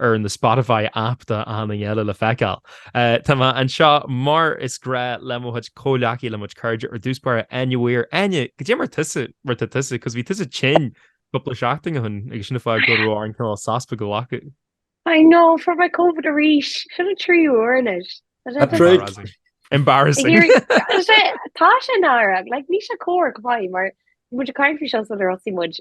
ar an Spotify aip tá sé anois le feiceáil. Tá mé anseo mar is gnách le mo chuid comhghleacaithe, le mo chuid cairde ar dtús báire, Enya Weir. Enya, cad é mar atá tusa, mar atá tusa, because bhí tusa tinn cúpla seachtain ó shin agus sin an fáth go raibh an cineál sos beag againn. I know, fuair mé Covid arís, sin an tríú huair anois. Padraig! Embarrassing! Tá sé in Éirinn, like ní sé comharc maith mar bhí muid ag caint faoi seo sular thosaigh muid,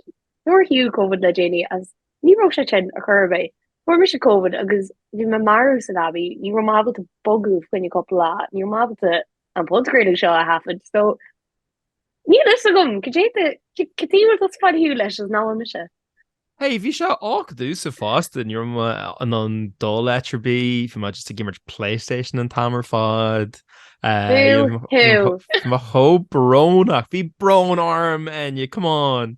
nár shíl Covid le déanaí agus Ní raibh sé sin, ar chor ar bith. Fuair mise Covid agus bhí mé marbh sa leabaidh, ní raibh mé ábalta bogadh fá choinne cúpla lá, ní raibh mé ábalta an podchraoladh seo a thaifead, so níl a fhios agam cad é do, cad é a bhfuil tú spailthiúil leis ach nuair a bhí mise. Hey, bhí sé uafadú uafásach, ní raibh mé in ann dul áit ar bith, bhí mé just ag imirt Playstation an t-am ar fad. Boo hoo! Bhí mé chomh brónach, bhí brón orm, Enya, come on!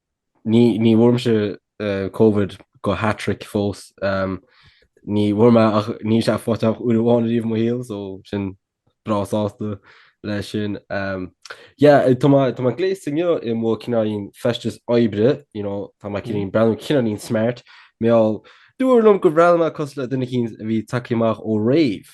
Ní bhfuair mise Covid go hat-trick fós. Ní bhfuair mé ach níl sé faighte agam ach uair amháin ariamh i mo shaol so táim breá sásta leis sin. Yeah, tá mé, tá mé gléasta inniu i mo cineáilín feisteas oibre, you know, tá mé cineáilín breathnú, cineáilín smart, bhuel. Dúradh liom gur bhreathnaigh mé cosúil le duine eicínt a bhí tagtha amach ó rave.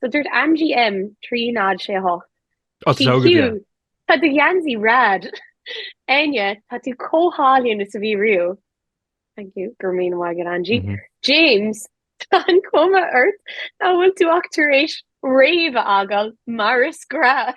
So dúirt Angie M 3 0 6 8. Ó, tá sé óg aige. TQ, Tá do gheansaí rad! Enya, Tá tú chomh hálainn is a bhí riamh! Thank you, go raibh míle maith agat Angie. James, Tá an chuma ort nach bhfuil tú ach tar éis rave a fhágáil mar is gnáth!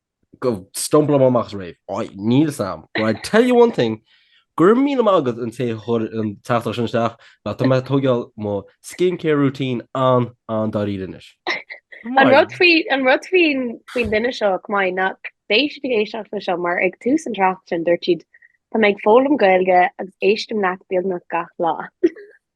go stumbleáilim amach as rave. Oi, níl 's am. But I tell you one thing, go raibh míle maith agat an té a chuir an teachtaireacht sin isteach, bhuel tá mé ag tógáil mo skin care routine an, an dáiríre anois. An rud faoi, an rud faoin, faoin duine seo, chomh maith, ná go mbeidh siad ag éisteacht leis seo, mar ag tús an tráchta sin dúirt siad, Tá mé ag foghlaim Gaeilge agus éistim leat beagnach gach lá.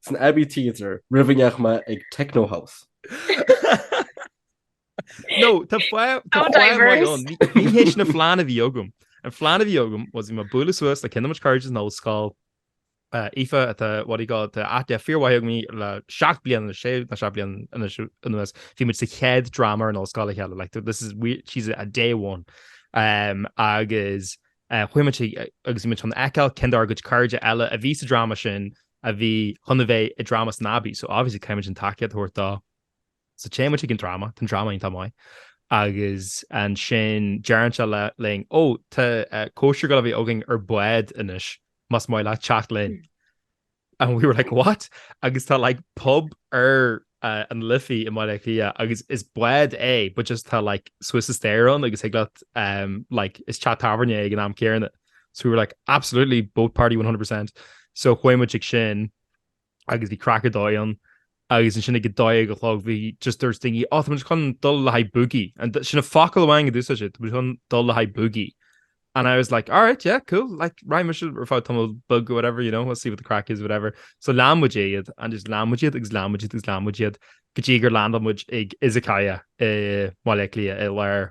San Abbey Theatre, roimh a ndeachaigh mé chuig Techno House. No, tá foill How diverse. Ní hé sin an plean a bhí agam. An plean a bhí agam was bhí mé ag bualadh suas le ceann de mo chuid cairde ón ollscoil, uh, Aoife atá, what do you call it, tá aithne fíor mhaith agam uirthi le seacht mbliana, sé, nó seacht mbliana siú- anuas, bhí muid sa chéad dráma ar an ollscoil le chéile, like, this is, we- she's a day one. Um, agus, eh, chuaigh muid ag- agus bhí muid chun feiceáil ceann dár gcuid cairde eile a bhí sa dráma sin, a bhí chun a bheith i dráma san Abbey, so obviously caithfimid an tacaíocht a thabhairt dó. So téann muid chuig an dráma, tá an dráma iontach maith, agus ansin deireann siad linn, Ó, tá cóisir ag gabháil a bheith againn ar bád anois, más maith leat teacht linn. And we were like, what? Agus tá like pub ar uh, an Liffey i mBaile Átha Cliath agus is bád é, but just tá like suas an staighre ann agus thig leat um, like, is teach tábhairne é ag an am céanna. So we were like, absolutely, boat party 100%. So chuaigh muid chuig sin agus bhí craic ar dóigh ann agus ansin ag a dó a chlog bhí just there's thingy oh tá muid chun dul le haghaidh boogie and sin na focail amháin a d'úsáid siad tá muid chun dul le haghaidh boogie and I was like alright yeah cool like right muid ar fáil tamall beag or whatever you know we'll see what the craic is whatever so lean muid iad and just lean muid iad agus lean muid iad agus lean muid iad go dtí gur land muid ag Izakaya i mBaile Átha Cliath i lár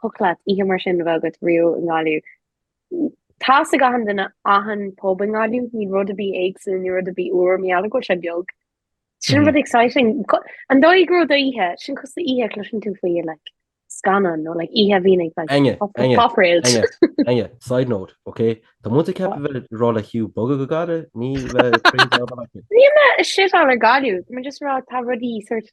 thiocfadh leat oíche mar sin a bheith agat riamh i nGaillimh. Tá a fhios ag achan duine achan pub i nGaillimh, níl rud ar bith éagsúil, níl rud ar bith úr, mar gheall go bhfuil sé beag. Sin an rud exciting. An dóigh go raibh do oíche, sin cosúil le oíche a chloiseann tú faoi like scannán nó like oíche a bhíonn ag like Áine, Áine, pop rave. Áine, Áine, side note, ok? Tá muid ag coinneáil a bheith ag rá le Hugh bogadh go Gaillimh, ní bheith ag croí dá bharr acu. Níl mé ag shiteáil ar Gaillimh, tá mé just ag rá tá rudaí sort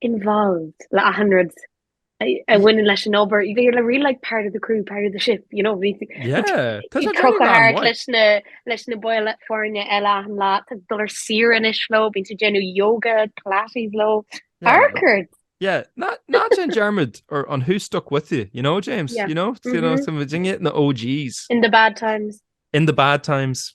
involved le achan rud a bhaineann leis an obair. They were really like part of the crew, part of the ship, you know. Bhí Yeah. Tá sé ag crochadh thart amhain. leis na leis na baill foirne eile achan lá. Tá tú ar laethanta saoire anois leo, bíonn tú ag déanamh yoga, pilates leo. Yeah. Arcade! Yeah. Ná ná déan dearmad ar an who stuck with you, you know, James? Yeah. You know? You know, Mhm. tá muid muidne na OGs. In the bad times. In the bad times.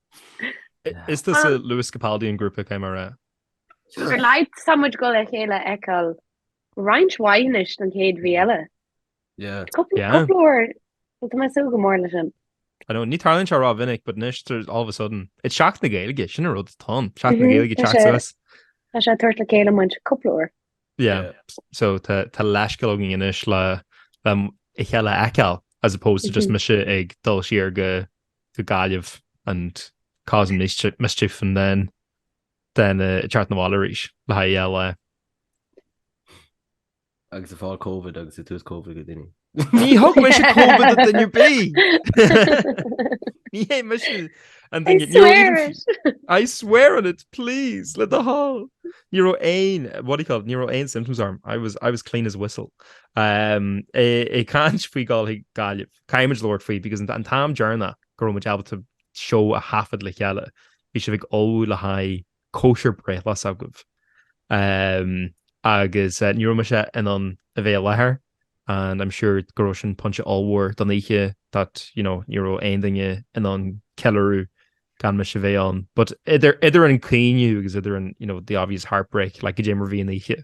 Is tusa Lewis Capaldi an grúpa cé mar a. Ar laghad tá muid ag dul a chéile a fheiceáil roinnt mhaith anois don chéad mhí eile. Yeah. Cúpla Yeah. cúpla uair. Bhuel, tá mé ag súil go mór leis sin. I know, ní tharlaíonn sé rómhinic, but anois there's all of a sudden. It's Seachtain na Gaeilge, sin an rud atá ann. Seachtain na Mhm, Gaeilge tá teacht sé. suas. Tá sé ag tabhairt le chéile muid cúpla uair. Yeah. Yeah. So tá tá leithscéal againn anois le le a chéile a fheiceáil as opposed to just Mhm. mise ag dul siar go go Gaillimh and causing mischief and then then uh ag teacht 'na bhaile arís le haghaidh LA. Agus ag fáil Covid agus ag tabhairt Covid do dhaoine. Ní thug mise Covid do duine ar bith! Ní hé mise an duine I swear it! I swear on it, please, le do thoil! Ní raibh aon, what do you call it, ní raibh aon symptoms orm. I was, I was clean as a whistle. Um, ag caint faoi ghabháil chuig Gaillimh. Caithfimid labhairt faoi, because an t-am deireanach go raibh muid ábalta seó a thaifead le chéile, bhí sibh ag ullmhú le haghaidh cóisir breithlae s'agaibh. Ehm, agus ní raibh mise in ann a bheith i láthair, and i'm sure go raibh sin pointe ollmhór don oíche that, you know, ní raibh aon duine in ann ceiliúradh gan mise a bheith ann. But idir, idir an caoineadh agus idir an, you know, the obvious heartbreak, like, caidé mar bhí an oíche.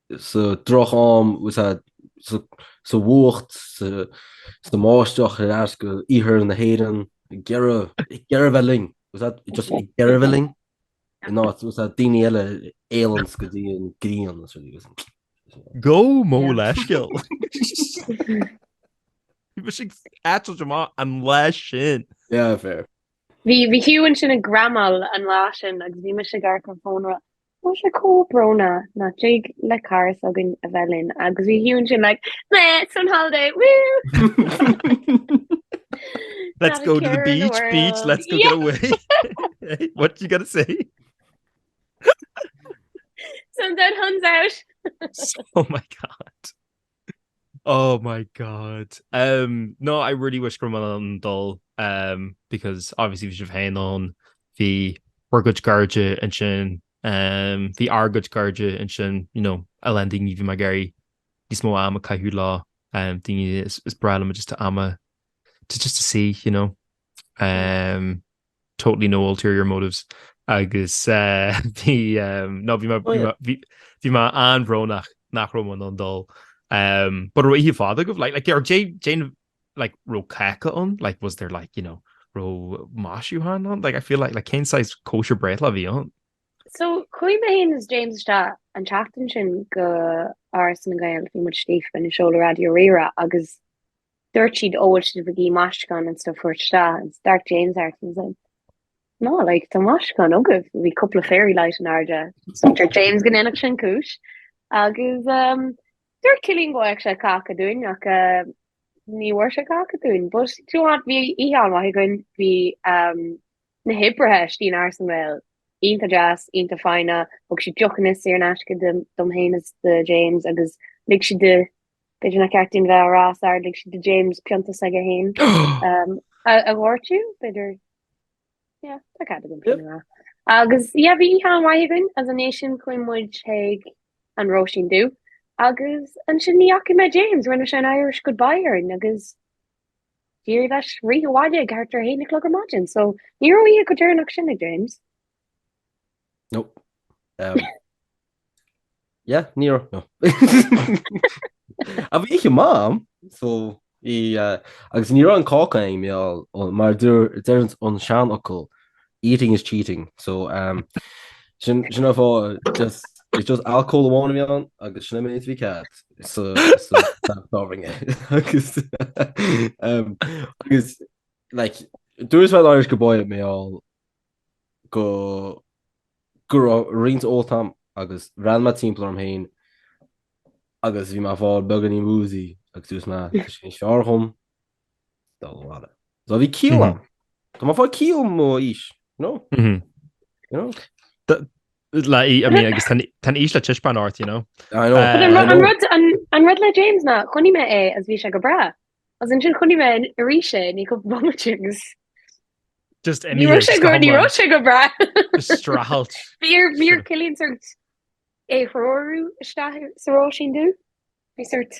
sa droch-am, sa bhfuacht, sa mbáisteach thíos in Iarthar na hÉireann, ag iarraidh bheith linn, just ag iarraidh bheith linn, ní hionann is daoine eile a éalaíonns go dtí an ghrian is rudaí agus. Gabh mo leithscéal! Bhí mise ag eitilt amach an lá sin! Yeah, fair. Bhí Hugh ansin ag gramáil an lá sin agus bhí mise ag amharc ar an fón ag rá Tá sé chomh brónach nach dtig le cara s'againne a bheith linn agus bhí Hugh ansin like I'm on holiday Let's go to the beach the beach let's go yeah. get away what you gotta say Sun's out huns out oh my god Oh my God umm no I really wish go raibh mé in ann dul umm because obviously bhí sibh féin ann, bhí bhur gcuid cairde ansin umm bhí ár gcuid cairde ansin you know a lán daoine bhí mé ag iarraidh níos mó ama a chaitheamh leo umm daoine is breá liom just a ama to just to see you know umm. totally no ulterior motives agus eh bhí ehm ná bhí mé bhí mé bhí mé an-bhrónach nach raibh mé in ann dul ehm but raibh oíche fhada agaibh like like ar deireadh like raibh cáca ann like was there like you know raibh maisiúcháin ann like I feel like like cén saghas cóisir breithlá a bhí ann? So chuaigh mé féin is James isteach an tseachtain sin go Áras na nGael bhí muid istigh i ndiaidh seoladh Raidió Rí-Rá agus Dúirt siad ó an bhfuil sibh ag iarraidh maisiúcháin and stuff a thabhairt isteach and d'amharc James orm and I was like no like tá maisiúcháin agaibh bhí cúpla fairy light in airde Dúirt James go ndéanfadh sin cúis agus um dúirt Cillian go bhfaigheadh sé cáca dúinn ach uh ní bhfuair sé cáca dúinn but do you know what bhí oíche an-mhaith againn bhí um na hoibrithe istigh in Áras na nGael iontach deas iontach foighneach thug siad deochanna saor in aisce dom féin is do James agus lig siad B'fhéidir nach ceart dúinn bheith á rá os ard, lig siad do James pionta s'aige féin a dhóirteadh, b'fhéidir yeah tá cead agam pionta agus yeah bhí oíche an-mhaith againn agus ina dhiaidh sin chuaigh muid chuig an Róisín Dubh agus ansin ní fhaca mé James, rinne sé an Irish goodbye orainn agus d'éirigh leis rith abhaile ag thart ar a haon a chlog ar maidin so ní raibh oíche chomh deireanach sin ag James. No. Um, yeah, ní raibh, no. ach bhí oíche amháin, so, í, uh, agus ní raibh aon cháca i mo bhéal, ó, mar dúr, deireann an seanfhocal, eating is cheating, so, um, sin, sin an fáth, just, it's just alcohol amháin a bhí ann, agus sin mar ba cheart, so, so, togha an rud é, agus, um, agus, like, dúras bhuel Irish goodbye bhuel, go go raibh roinnt ólta agam agus bhreathnaigh mé timpeall orm féin agus bhí mé fáil beagáinín woozy agus dúirt mé tá sé níos fearr dhom dul abhaile. So bhí ciall agam. Tá mé fáil ciall i mo aois, you know? Mhm. You know? D- le- I mean, agus tá an, tá an aois le taispeáint ort, you know. I know, But an, I ru- an know. rud an, an rud le James ná chonaic mé é agus bhí sé go breá. Agus ansin chonaic mé arís é, ní go bhfo-mhaith agus Just ní raibh sé go, ní raibh sé go breá. Streachailt. Bhí ar, bhí ar Cillian sort é a threorú isteach sa Róisín dú. Bhí sort,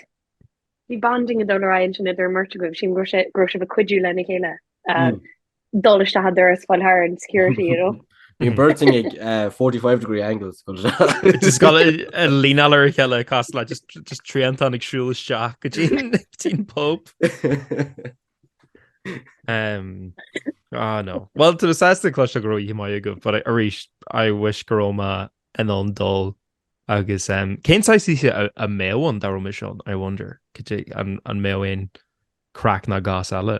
bhí bonding ag dul ar aghaidh ansin idir a mbeirt agaibh, sílim go raibh sé, go raibh sibh ag cuidiú lena chéile. dul isteach an doras fáil thar an security, you know. Bíonn beirt in ag 45 degree angles go dtí. Just got a a leaneáil ar a chéile cosúil le just just triantán ag siúl isteach go dtí dtí an pub. Um, ah no. Well tá mé sásta cloisteáil go raibh oíche mhaith agaibh but arís I wish go raibh mé in ann dul agus um, cén chaoi a mbeadh an dá raibh mise ann I wonder cad é an mbeadh aon craic ná gas eile.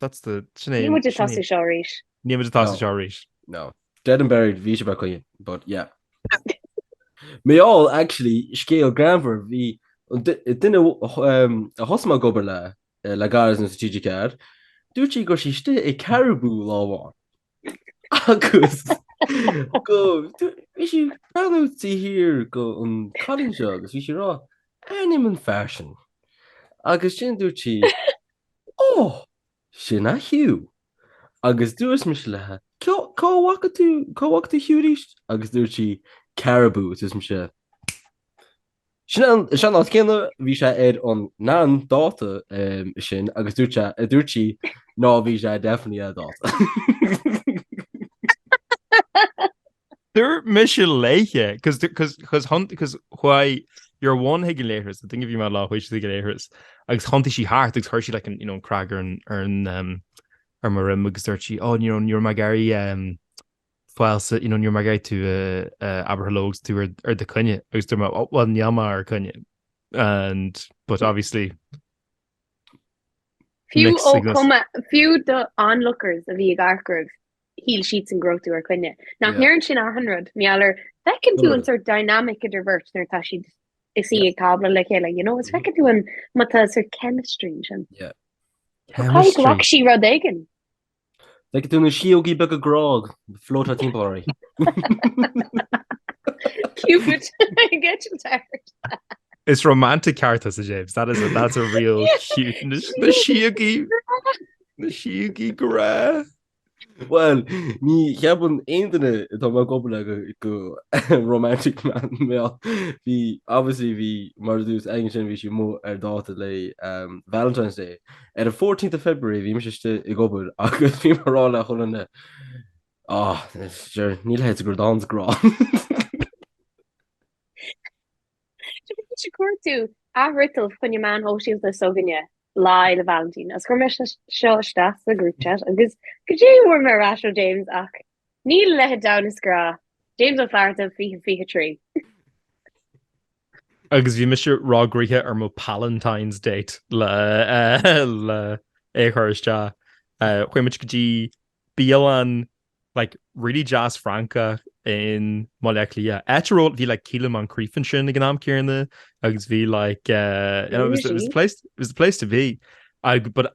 That's the Sinead. Níl muid ag tosú seo arís. Níl muid ag tosú seo arís. No. Dead and buried, bhí sé, ba choinne é, but yeah. Well, actually, scéal greannmhar, bhí an duine a thosaigh mé ag obair le, le gairid sa TG4, dúirt sí go raibh sí istigh i Caribou lá amháin, Agus bhí sí ag breathnú siar ar an gcailín seo agus bhí sí ag rá, aithním an fear sin. Agus ansin dúirt sí, Ó, sin é Hugh. Agus dúirt mise léithe, Cá bhfaca tú Hugh arís? Agus dúirt sí, Caribou. Agus dúirt mise, Sin an áit céanna, bhí sé ar an, an dáta sin agus dúirt sé, dúirt sí ná bhí sé definitely ar dáta. Dúirt mise léithe, cos cos cos cos chuaigh your one chuig an leithreas, I think if my lad, chuaigh sé ag an leithreas agus thiontaigh sí thart agus chuir sí like an you know an crág ar an ar an ar mo dhroim agus dúirt sí, oh you know you're my gary um falsa, you know, níor mar gheibh tú abartha leo agus tú ar do choinne agus tú mar, oh, well, níl mé ar coinne. And, but obviously... Fiú ó chuma, fiú do onlookers a bhí ag amharc oraibh, shíl siadsan go raibh tú ar coinne. Nach ndéarfainn sin achan rud, mar gheall ar, feiceann tú an sort dynamic idir bheirt nuair atá siad ina suí ag tábla le chéile, you know, is feiceann tú an, má tá sort chemistry ansin. Yeah. Chemistry. Chonaic sí rud éigin. Feiceann tú na síogaí beaga grá ag floatáil timpeall oraibh. Cupid, I get you tired. Is romantic ceart thusa James, that is a, that's a real cute, na síogaí, na síogaí grá. Bhuel, ní cheapann aon duine atá i mo phobal gur romantic mé ach bhí, obviously bhí, mar a dúirt sí ansin bhí sí amuigh ar dáta le Valentine's Day. Ar an 14th of February bhí mise istigh ag obair agus bhí mé ag rá le chuile dhuine, Ah, sure, níl a leithéid de rud ann is grá. Sure, bhí mise ag cuartú athfhriotal faoi choinne na meáin shóisialta s'againne Lá Fhéile Vailintín agus chuir mé seo isteach sa group chat agus goidé a fuair mé ar ais ó James, ach níl a leithéid de rud ann is grá, James Ó Flatharta 2023. Agus bhí mise réitithe ar mo Palentine's date le é a chur isteach. Chuaigh muid go dtí bialann like really deas Francach i mBaile Átha Cliath. Áit a raibh, bhí like Caelainn McGrath ansin ag an am céanna agus bhí like, you know, it was the place, it was the place to be. Ag, but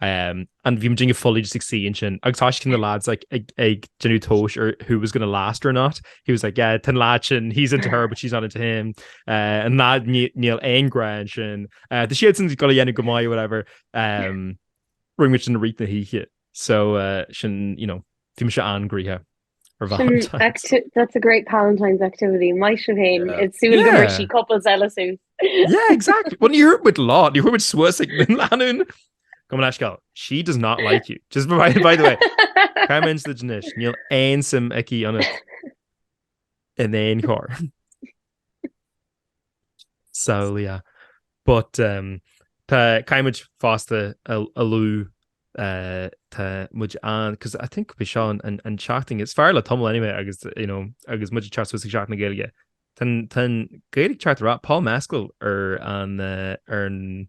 Um, an bhím dinge fully just ag sí an sin. Agus táis cin na lads like, ag, ag genú tóis ar who was going to last or not. He was like, yeah, tan lad sin, he's into her, but she's not into him. Uh, an lad níl ein gran sin. Uh, the siad sin go le dhéanú go mai, whatever. Um, Ring which in the reach na híche. So, uh, sin, you know, fim se an gríhe. for Valentine's. That's a great Palentine's activity, maith sibh féin, d'ith sibh, go bhfuair sibh couples eile suas. Yeah, exactly. Well ní dheachaigh muid, ní dheachaigh muid suas ag na leanúin. Gabh mo leithscéal, she does not like you. Just by the way, caithfidh mé insint anois, níl aon suim aici ionat in aon chor. samhlaíoch. But um caithfimid fosta a lua tá muid an cos I think gurb é seo an seachtain is fearr le tamall anyway agus you know agus muid ag teacht suas ag Seachtain na Gaeilge tá an Ghaeilge ag teacht trí Paul Mescal ar an ar an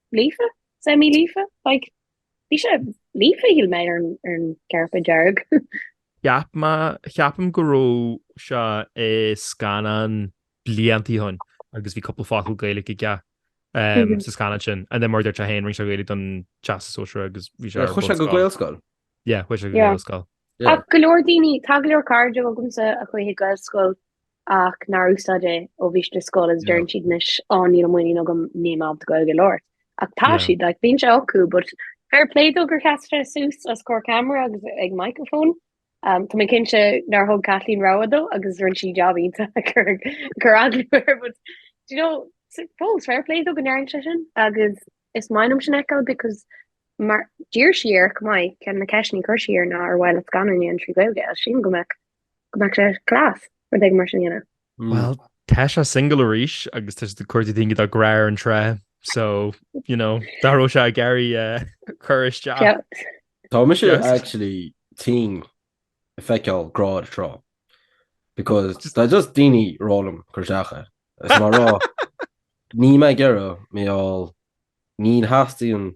líofa, semi-líofa, like bhí sé líofa shíl mé ar an gcairpéad dearg. Cheap mé, ceapaim go raibh sé i scannán blianta ó shoin agus bhí cúpla focal Gaeilge aige sa scannán sin and then mar a deir sé féin rinne sé Gaeilge don teastas sóisir agus bhí sé ar Chuaigh sé go Gaelscoil? Yeah, chuaigh sé go Gaelscoil. Ach go leor daoine, tá go leor cairde agamsa a chuaigh chuig Gaelscoil ach nár úsáid é ó bhí siad i scoil is deireann siad anois á níl an muinín agam níl mé ábalta gaeilge a labhairt ach tá siad like bíonn sé acu but fair play dó gur sheas sé suas os comhair camera agus ag microphone um tá mé cinnte nár thug Caitlín rogha dó agus rinne sí job iontach ag cur cur eagla air but do you know fós fair play dó go ndearna sé sin agus is maith liom sin a fheiceáil because mar d'iarr sí air chomh maith ceann de na ceisteanna a chuir sí air ná ar mhaith leat scannáin a dhéanamh trí Ghaeilge as sin go mbeadh go mbeadh sé class, rud éigin mar sin a dhéanamh. Bhuel, tá sé singil arís agus tá siad ag cuartú daoine do Grá ar an Trá, so, you know, dá raibh sé ag iarraidh cur isteach. Tá mise actually tinn ag feiceáil Grá ar an Trá because tá just daoine ag rá liom cur isteach air. Is mé ag rá, níl mé ag iarraidh mé ál, ní theastaíonn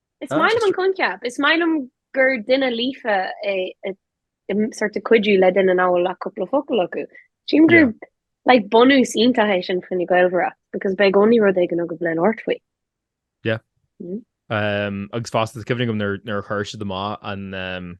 Is maith liom an coincheap. Is maith liom gur duine líofa é ag sort of cuidiú le duine nach bhfuil ach cúpla focal acu. Sílim gur Yeah. like bunús iontach é sin fá choinne gaol a mhairfeadh because beidh i gcónaí rud éigin agaibh le labhairt faoi. Um, agus fosta, tá cuimhne agam nuair nuair a chuir siad amach an um,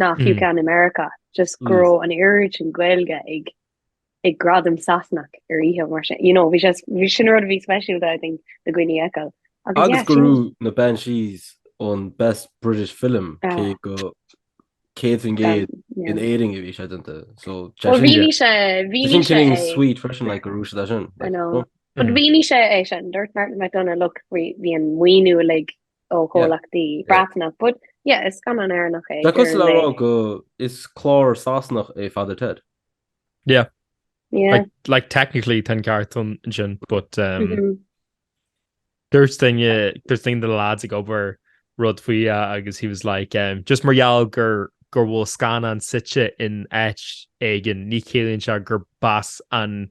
Ná fiú ceann i Meiriceá, just go raibh an oiread sin Gaeilge ag ag gradam Sasanach ar oíche mar sin, you know, bhí sé, bhí, sin rud a bhí speisialta I think do dhaoine fheiceáil. Agus yeah, Agus go sin, raibh na Banshees an Best British Film, cé ah, go 100% in yeah. Éirinn a bhí sé déanta. So, tá Well, sin ag- mhínigh sé, tá mhínigh sin sé feeling é, sweet freisin, like, go raibh siad as sin. I like, know. oh, But mhínigh sé é sin, dúirt Martin McDonagh, look, bhí bhí an maoiniú uilig ó chomhlachtaí Breatnach, but yeah, is scannán Éireannach é. Tá sé cosúil le rá go is clár Sasanach é Father Ted. Yeah. Yeah. Like, like technically tá an ceart ansin, but um, mm -hmm. dúirt duine uh, dúirt duine de na lads ag obair rud faoi agus he was like um, just mar gheall go go bhfuil scannán suite in áit éigin ní chiallaíonn sé gurb as an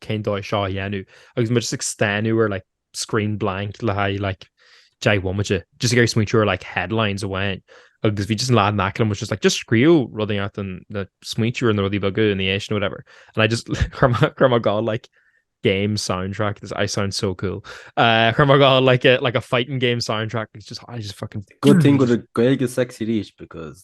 cén dóigh seo a dhéanamh, agus muid just ag stánadh ar like screen blank le haghaidh like deich bhomaite, just ag iarraidh smaointiú ar like headlines amháin, agus bhí just an lad in aice liom was just like just scríobh rudaí out and then smaointiú ar na rudaí beaga ina dhiaidh sin nó whatever and I just chuir mé chuir mé ag gabháil like game soundtrack this I sound so cool uh, chuir mé ag gabháil like a like a fighting game soundtrack it's just I just fucking Good thing go bhfuil Gaeilge sexy arís because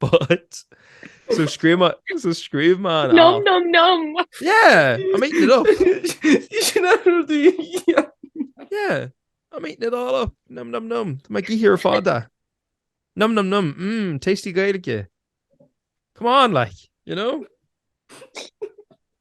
But, so scríobh mé, so scríobh mé an Nom, app. nom, nom! Yeah, I'm eating it up. Ní sin an rud a dhéanann. Yeah, I'm eating it all up. Nom, nom, nom. Tá mé ag ithe ar fada. Nom, nom, nom. Mmm, tasty Gaeilge. Come on, like, you know?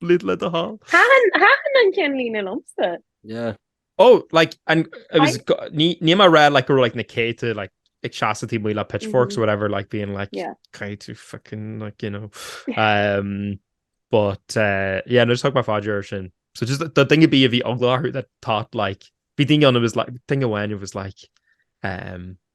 Lid le do thoil. Thaitin an ceannlíne liomsa. Yeah. Oh, like, and it was, ní mar rá, like, go raibh, like, na céadta, like, ag seasamh taobh amuigh le pitchforks or whatever, like, being like, can you fucking, like, you know. Um, but, uh, yeah, nó just thug mé fáilte air sin. So just the thing would be if he that thought, like, bhí duine ann who was like, duine amháin who was like, um...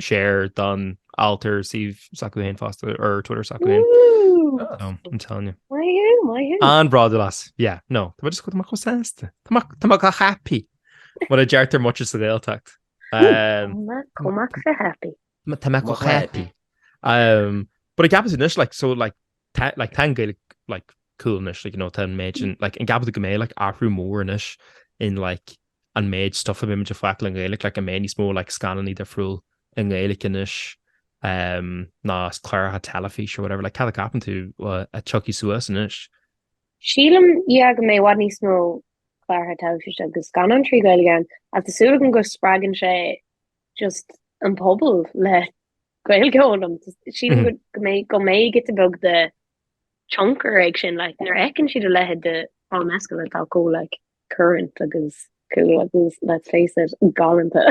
Share don alt ar suíomh s'acu féin fosta ar Twitter s'acu féin. No, I'm telling you. Maith thú, maith thú. An-bhródúil as. Yeah, no. Tá muid is go tá muid chomh sásta. Tá muid tá muid go happy. Mar a deirtear amuigh sa Ghaeltacht. Um, Go mac fé happy. Ma- Tá mé go happy. Um, but an gceapann sibh anois, like, so, like, Tá like tá an Gaeilge like cool anois like you know tá an méid sin like an gceapann tú go mbeidh like athrú mór anois in like an méid stuff a bheimid ag feiceáil i nGaeilge like go mbeidh níos mó like scannánaí difriúil i nGaeilge anois ehm ná cláracha teilifíse or whatever like cad é a cheapann tú a thiocfaidh suas anois? Sílim yeah go mbeidh i bhfad níos mó cláracha teilifíse agus scannáin trí Ghaeilge ann ach tá súil agam go spreagann sé just an pobal le Gaeilge a fhoghlaim sílim go mbeidh giota beag de thionchar ag sin like nuair a fheiceann siad a leithéid de Paul Mescal atá chomh like current agus cool agus let's face it galánta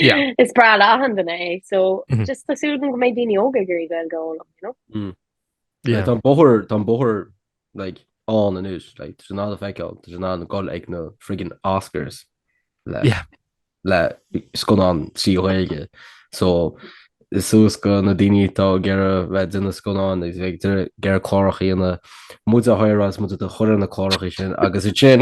yeah is breá le achan duine é so mm -hmm. just tá súil agam go mbeidh daoine óga ag iarraidh Gaeilge a fhoghlaim you know mm. Yeah. Tá an bóthar, tá an bóthar like ann anois, like tá siad in ann a fheiceáil, tá siad in ann gabháil ag na friggin Oscars le yeah. le scannán trí Ghaeilge. So is suas chuig na daoine atá ag iarraidh bheith ag déanamh scannáin is bheith gur chlárach íana muid a háir as mu a chuir na cláracha sin agus i sin.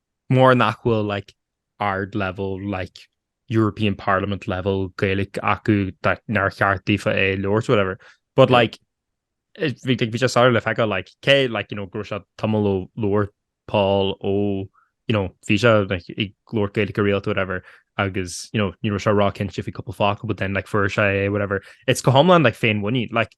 Mura nach bhfuil like ard level like European Parliament level Gaeilge acu like nár cheart daofa é a labhairt whatever but like bhí like bhí sé sár le feiceáil like cé like you know go raibh sé tamall ó labhairt Paul ó you know bhí sé like ag labhairt Gaeilge go rialta whatever agus you know ní raibh sé róchinnte faoi cúpla focal but then like fuair sé é whatever. It's go hiomlán like féinmhuinín like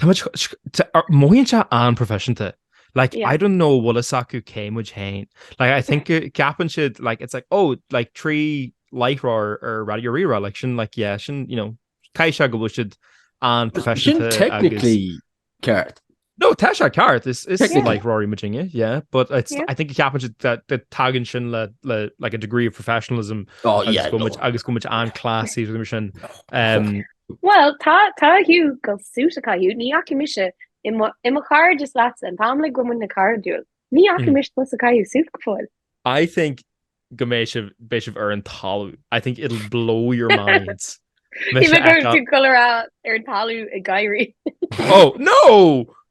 Táimid, mothaíonn sé an-proifisiúnta. Like, I don't know bhfuil fhios acu cé muid féin. Like, I think ceapann siad, like, it's like, oh, like, trí láithreoir ar Raidió Rí-Rá, like, sin, like, yeah, sin, you know, caithfidh sé go bhfuil siad an-proifisiúnta. Sin technically ceart. No, tá sé ceart, is láithreoirí muidinne, yeah, but it's, I think ceapann siad that the tagann sin le, like, a degree of professionalism agus go bhfuil muid an-classy, agus go bhfuil muid sin. Bhuel, tá, tá Hugh ag gabháil suit a chaitheamh, ní fhaca mise i mo, i mo chairdeas leatsa, an t-am uilig a bhfuil muidne cairdiúil, ní fhaca mise tusa ag caitheamh suit go fóill. I think go mbeidh sibh, beidh sibh ar an talamh, I think it'll blow your minds. Bhí mé ag cur tú col ar an talamh ag gáirí. Oh, no!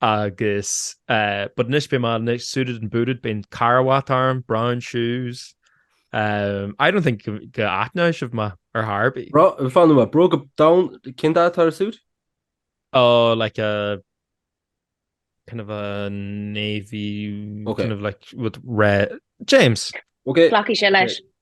agus but anois beidh mé anois suited and booted beidh carbhat orm, brown shoes I don't think go aithneoidh sibh mé ar chor ar bith. Fan, what, bróga donn, cén dath atá ar an suit? Oh like a kind of a navy kind of like with red James. Ok. Glacfaidh sé leis.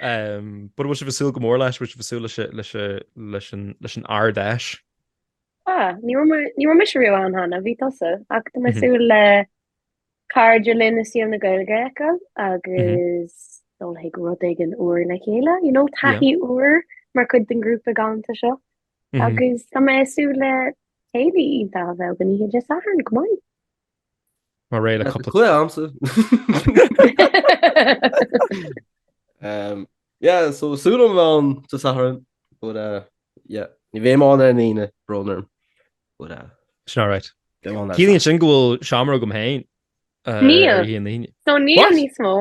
But bhfuil sibh ag súil go mór leis? Bhfuil sibh ag súil leis an Ard-Fheis? Ah, ní raibh mé, ní raibh mise riamh ann cheana, bhí tusa, ach tá mé ag súil le cairde linn as scene na Gaeilge a fheiceáil agus dul chuig rud éigin úr le chéile, you know, taithí úr mar chuid den ghrúpa galanta seo. Agus tá mé ag súil le céilí iontach a bheith againn oíche Dé Sathairn, go maith. Mar ré le cúpla. Chuile am so. Umm yeah so súil agam bheith ann sa Satharn but uh yeah ní bheidh mé ann ar an Aoine, brón orm but uh Sin alright. beidh mé ann ar an Ciallaíonn Satharn. sin go bhfuil seomra agam féin uh, Níl. ar oíche Aoine. So níl What? níos mó.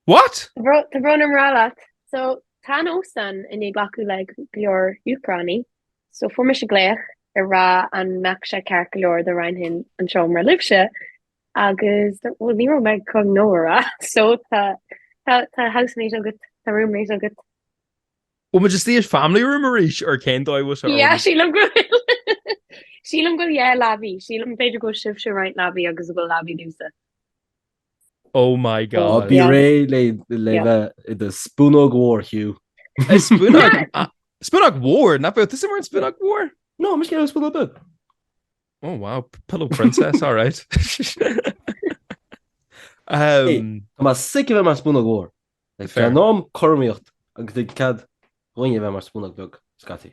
What? Tá bro- tá brón orm a rá leat. So tá an óstán i ndiaidh glacadh le go leor Úcránaigh. So fuair mise glaoch a rá an mbeadh sé ceart go leor dá roinnfinn an seomra libhse agus bhuel ní raibh mé chun no a rá so tá tá tá housemate agat tá roommate agat. Bhuel muid istigh i family room arís ar cén dóigh bhfuil sé orm? Yeah sílim go bhfuil sílim go bhfuil yeah leabaidh sílim b'fhéidir go bhfuil sibhse ag roinnt leabaidh agus go bhfuil leabaidh domhsa. Oh my god. Bí réidh le bheith i do spúnóg mhór, Hugh. Spúnóg mhór? Nach mbeadh tusa mar an spúnóg mhór. No, mise i gcónaí spúnóg beag. Oh wow, pillow princess, alright. Tá mé sick a bheith mar spúnóg mhór. Like déanam cothromaíocht agus tabhair cead dhúinn a bheith mar spúnóg beag, scaití.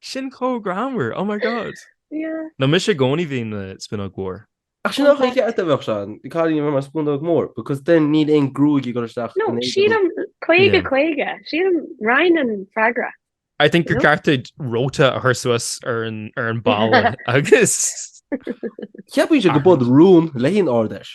Sin chomh greannmhar! Oh my God! Yeah. No mise i gcónaí bím i mo spúnóg mhór. Ach sin an chaoi cheart a bheadh sé, caithfidh mé bheith mar spúnóg mhór because then níl aon gruaig ag dul isteach i m'éadan. No, sílim caoga caoga, sílim roinn an freagra. I think gur ceart duit róta a chur suas ar an balla agus. Ceapaimse gurb eod rún le haghaidh an Ard-Fheis.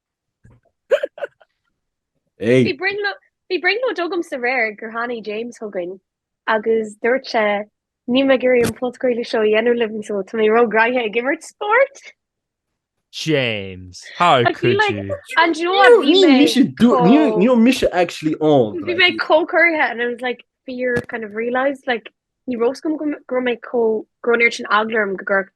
Bhí brionglóid bhí brionglóid agamsa aréir gur tháinig James chugainn agus dúirt sé Níl mé ag iarraidh an phodchraoladh seo a dhéanamh libh so tá mé róghraitheach ag imirt spóirt! James! How could you? And do you know what, bhí mé chomh- Níl mise actually ann. Bhí mé chomh corraithe and I was like fear kind of realised like ní raibh a fhios agam go raibh mé chomh go raibh an oiread sin eagla orm go gcuirfeadh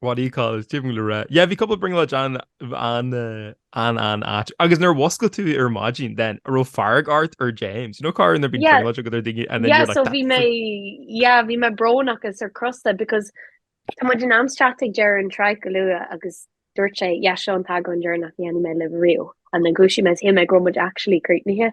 What do you call it? Céard a bhfuil le rá? Yeah, bhí cúpla brionglóid an-, an-, an-ait. Agus nuair a mhuscail tú ar an maidin then, an raibh fearg ort ar James. You know corruair bíonn brionglóid agat ar dhuine and then you're like that's it. Yeah, so bhí mé, yeah, bhí mé brónach is sórt crosta because tá muid in ainm is teacht ag deireadh an tsraith go luath agus dúirt sé yeah seo an t-eagrán deireanach a dhéanfaidh mé libh riamh. And then dhúisigh mé is shíl mé go raibh muid actually críochnaithe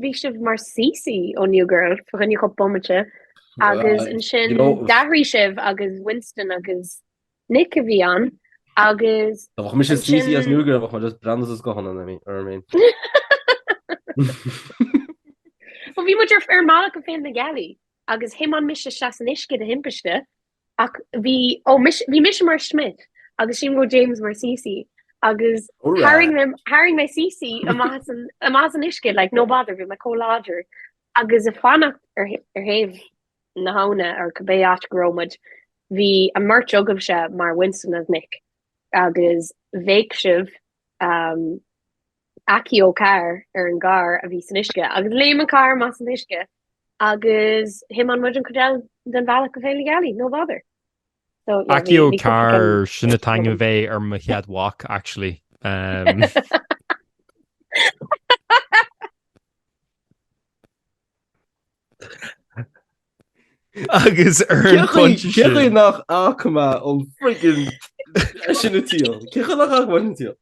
Bhí sibh mar Cece ó New Girl, fá choinne cúpla bomaite, agus ansin d'athraigh sibh agus Winston agus Nick a bhí ann agus. Dá mba mise Cece as New Girl, bheadh mé just breathnú as guthanna na mí, ar mí. Bhí muid ar an mbealach go Féile na Gealaí agus thiomáin mise isteach san uisce de thimpiste Ach bhí, ó mis, bhí mise mar Schmidt agus sílim go raibh James mar Cece agus tharraing, tharraing mé, tharraing mé Cece amach as an, amach as an uisce, like, no bother, bhí mé chomh láidir. Agus ag fanacht ar thaobh, ar thaobh na habhna, or cibé áit go raibh muid, bhí an bheirt agaibhse mar Winston agus Nick, agus bhéic sibh, um, Accio carr ar an gcarr a bhí san uisce agus léim an carr amach as an uisce agus thiomáin muid an chuid eile den bhealach go Féile Gealaí, no bother. So yeah, Accio carr, sin an t-ainm a bheidh ar mo chéad mhac, actually. Um, Agus ar an phointe sin. Cén chaoi nach bhfaca mé an friggin sin ag tíocht? Cén chaoi nach bhfaca mé sin ag tíocht?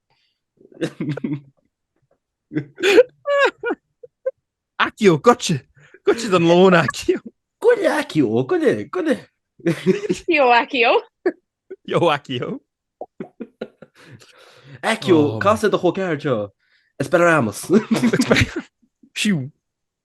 Accio goitse! Goitse don lón Accio! Goile Accio! Goile! Goile! Yo Accio! Yo Accio! Accio! Cas ar do chol ceathar seo! Expelliarmus! Siú!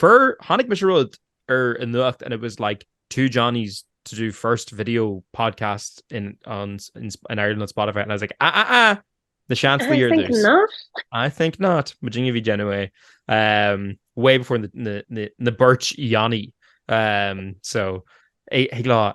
Fuair, chonaic mise rud ar an nuacht and it was like two Johnnies to do first video podcast in, on, in, in Ireland on Spotify and I was like, ah, ah, ah, Na Seansálaithe ar dtús. I think not, muidinne a bhí ag déanamh é. Um, way before na, na, na, na beirt Johnny. Um, so, lá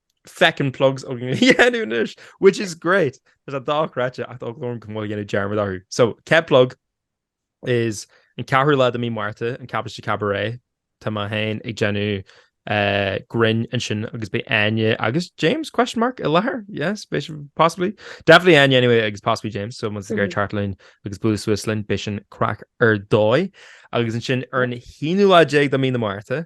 Feckin' plugs againn le déanamh anois, which is great! Tá sé dochreidte ach tá eagla orm go bhfuil mé ag déanamh dearmad orthu. So, chéad plug is an ceathrú lá de mí Márta, an Cabáiste Cabaret. Tá mé féin ag déanamh eh, grinn ansin agus beidh Áine agus James, question mark, i láthair? Yes, beidh siad possibly. Definitely Áine anyway agus possibly James, so má tá sibh ag iarraidh teacht linn agus bualadh suas linn, beidh sin craic ar dóigh. Agus ansin ar an 11ú lá de mí na Márta,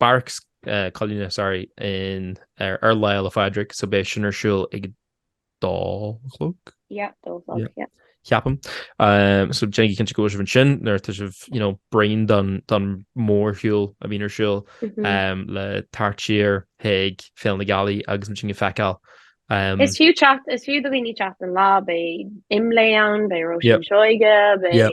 Barracks, Coileáin, sorry, in ar Lá Fhéile Pádraig, so beidh sin ar siúl ag a dó a chlog? Yeah, dó a chlog, yeah. Yeah. Ceapaim. Um, so déanaigí cinnte go bhfuil sibh ansin, nuair atá sibh, you know, bréan don, don mórshiúl a bhíonn ar siúl, mm -hmm. um, le teacht siar chuig Féile na Gealaí agus muidinne a fheiceáil. Um, is fiú teacht, is fiú do dhaoine teacht an lá, beidh IMLÉ ann, beidh Róisín yep. Seoighe, beidh... Yep.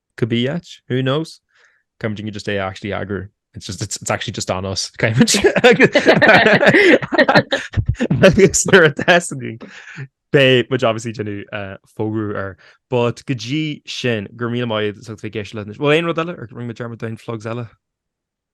Could be yet, who knows? Coimid inge just é actually á eagrú, it's just it's it's actually just anois. Agus nuair atá sé beidh muid obviously ag déanamh fógra air. But go dtí sin, go raibh míle maith agat as ucht bheith ag éisteacht linn. Bhfuil aon rud eile ar rinne muid dearmad de, aon phlugs eile?